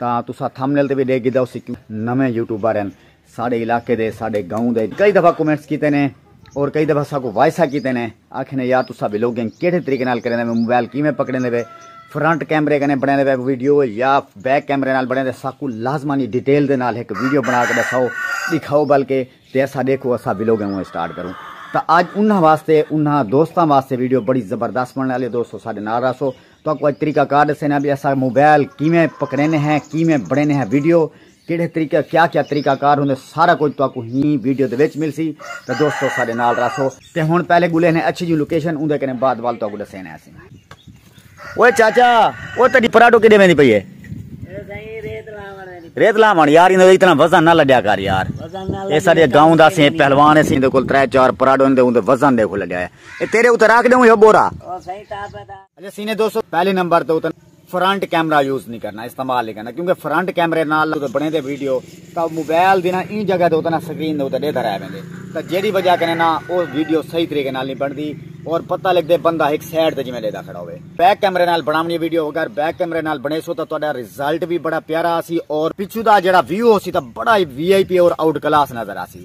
تاں تساں تھمنیل تے وی ڈیکھ گھدا ہوسی کیوں نویں یوٹیوبر ہن ساڈے علاقے دے ساڈے گاؤں دے کئی دفعہ کمنٹس کیتے نے اور کئی دفعہ اساکوں وائساں کیتے نے آکھے نے یار تساں ولاگنگ کیڑھے طریقے نال کریندے پے موبائل کیویں پکڑیندے پے فرنٹ کیمرے کنے بنڑیندے پے ویڈیو یا بیک کیمرے نال بنڑیندے اساکوں لازمانی ڈیٹیل دے نال ہک ویڈیو بنا کے دساؤ ڈکھاؤ بلکہ تے اساں ڈیکھو اساں ولاگنگ اوویں سٹارٹ کروں تاں اج انہاں واسطے انہاں دوستاں واسطے ویڈیو بڑی زبردست بنڑنے آلی ہے دوستو ساڈے نال رہسو تہاکوں اڄ طریقہ کار ݙسیندے ہاں بھئی اساں موبائل کیویں پکڑیندے ہیں کیویں بݨیندے ہیں ویڈیو کیڑھے طریقے کیا کیا طریقہ کار ہوندے سارا کجھ تہاکوں ہی ویڈیو دے وچ ملسی تاں دوستو ساݙے نال رہسو تے ہݨ پہلے ڳولے نے اچھی جیوں لوکیشن اوندے کنے بعد وال تہاکوں ݙسیندے ہاسیں اوئے چاچا او تیݙی پراڈو کݙے ویندی پئی ہے ریت لاوݨ یار ایندے اتنا وزن نہ لڈیا کر یار اے ساڈے گاؤں دا سیں پہلوان سیں دے کول 3 4 پراڈو دے اوندے وزن دیکھو لڈیا ہے اے تیرے اتے راکھ دیوں یو بورا اچھا سینے دوستو پہلے نمبر تے اتن فرنٹ کیمرہ یوز نہیں کرنا استعمال نہیں کرنا کیونکہ فرنٹ کیمرے نال تے بنے دے ویڈیو تا موبائل دی نا این جگہ تے اتنا سکرین دے اتنا دیتا رہ بندے تا جیڑی وجہ کرنے نا او ویڈیو صحیح طریقے نال نہیں بن دی اور پتہ لگ دے بندہ ایک سیڈ تے جمعہ دیتا کھڑا ہوئے بیک کیمرے نال بنامنی ویڈیو اگر بیک کیمرے نال بنے سو تا تو اڈا ریزلٹ بھی بڑا پیارا آسی اور پچھو دا جیڑا ویو ہو سی تا بڑا وی آئی پی اور آؤٹ کلاس نظر آسی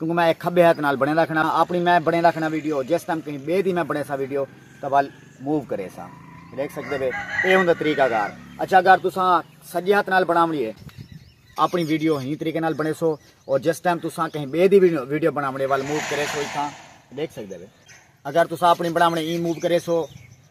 کیونکہ میں ایک کھبے ہتھ نال بنڑیندا کھڑا ہاں اپنی میں بنڑیندا کھڑا ویڈیو جس ٹائم کہیں بے دی میں بنڑیسا ویڈیو تاں ول موو کریسا دیکھ سکدے بے اے ہوندا طریقہ کار اچھا اگر تساں سجے ہتھ نال بناونی ہے اپنی ویڈیو ہی طریقے نال بنڑیسو اور جس ٹائم تساں کہیں بے دی ویڈیو بناونی ول موو کریسو ایتھاں دیکھ سکدے بے اگر تساں اپنی بناونی ای موو کریسو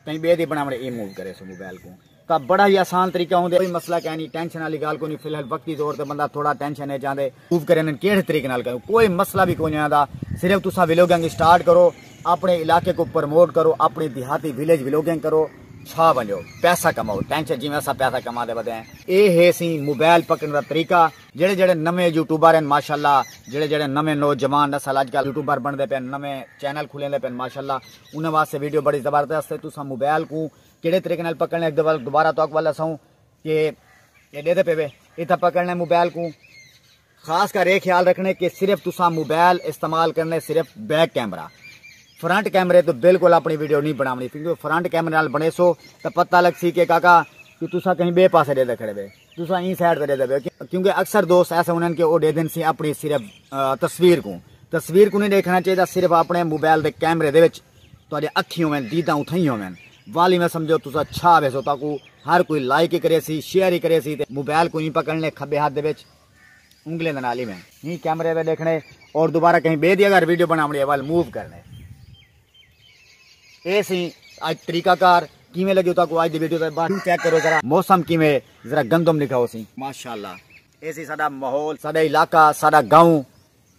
کہیں بے دی بناونی ای موو کریسو موبائل کو تاں بڑا ہی آسان طریقہ ہوندے کوئی مسئلہ کائے نی ٹینشن والی گال کوئی نی فی الحال وقتی طور تے بندہ تھوڑا ٹینشن اچ آندے موو کرن کیڑھے طریقے نال کروں کوئی مسئلہ وی کوئی نی آندا صرف تساں ویلوگنگ سٹارٹ کرو اپنے علاقے کو پرموٹ کرو اپنی دیہاتی ویلیج ویلوگنگ کرو چھا ونجو پیسہ کماؤ ٹینشن جیویں اساں پیسہ کما دے ودے ہیں۔ اے ہے سی موبائل پکڑن دا طریقہ جیڑھے جیڑھے نویں یوٹیوبر ہن ماشاءاللہ جیڑھے جیڑھے نویں نوجوان نسل اج کل یوٹیوبر بنڑدے پئے ہن نویں چینل کھلیندے پئے ہن ماشاءاللہ انہاں واسطے ویڈیو بڑی زبردست ہے تساں موبائل کوں کیڑھے طریقے نال پکڑنے اک دے ول دوبارہ تہاکوں ول اساوں کہ اے ڈیدھے پے وے اتھا پکڑنے موبائل کوں خاص کر اے خیال رکھنے کہ صرف تساں موبائل استعمال کرنے صرف بیک کیمرہ فرنٹ کیمرے تو بالکل اپنی ویڈیو نہیں بناونی کیونکہ فرنٹ کیمرے نال بنے سو تو پتہ لگ سی کہ کاکا کہ تساں کہیں بے پاسے دے دے کھڑے بے تساں این سائڈ تے دے دے بے کیونکہ اکثر دوست ایسے انہوں کہ وہ دے دن سی اپنی صرف تصویر کو تصویر کو نہیں دیکھنا چاہیے صرف اپنے موبائل دے کیمرے دے وچ تہاݙے اکھیں ہوون، دیداں اتھائیں ہوون۔ والی میں سمجھو تساں چھا ویسو تاکوں ہر کوئی لائک ای کریسی، شیئر ای کریسی تے موبائل کوں ایں پکڑݨے کھٻے ہتھ دے وچ انگلیں دے نال ای میں۔ ہی کیمرے تے ݙیکھݨے اور دوبارہ کہیں ٻئے دی اگر ویڈیو بݨاوݨی ہے ول موو کرݨے اے سی اڄ طریقہ کار کیویں لڳیو تاکوں اڄ دی ویڈیو تے بعد ویو چیک کرو ذرا موسم کیویں ہے ذرا گندم ݙکھاؤ سی۔ ماشاءاللہ اے سی ساݙا ماحول ساݙا علاقہ ساݙا گاؤں۔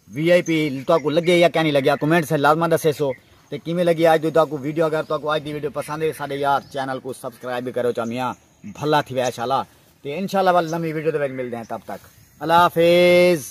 وی آئی پی تاکو لگے یا کیا نہیں لگیا کمنٹ سے لازمہ دسے سو تے کیویں لگی آج دی تاکو ویڈیو اگر تاکو آج دی ویڈیو پسند ہے ساڈے یار چینل کو سبسکرائب بھی کرو چامیاں بھلا تھی وے انشاءاللہ تے انشاءاللہ ول نمی ویڈیو دے وچ ملدے ہیں تب تک اللہ حافظ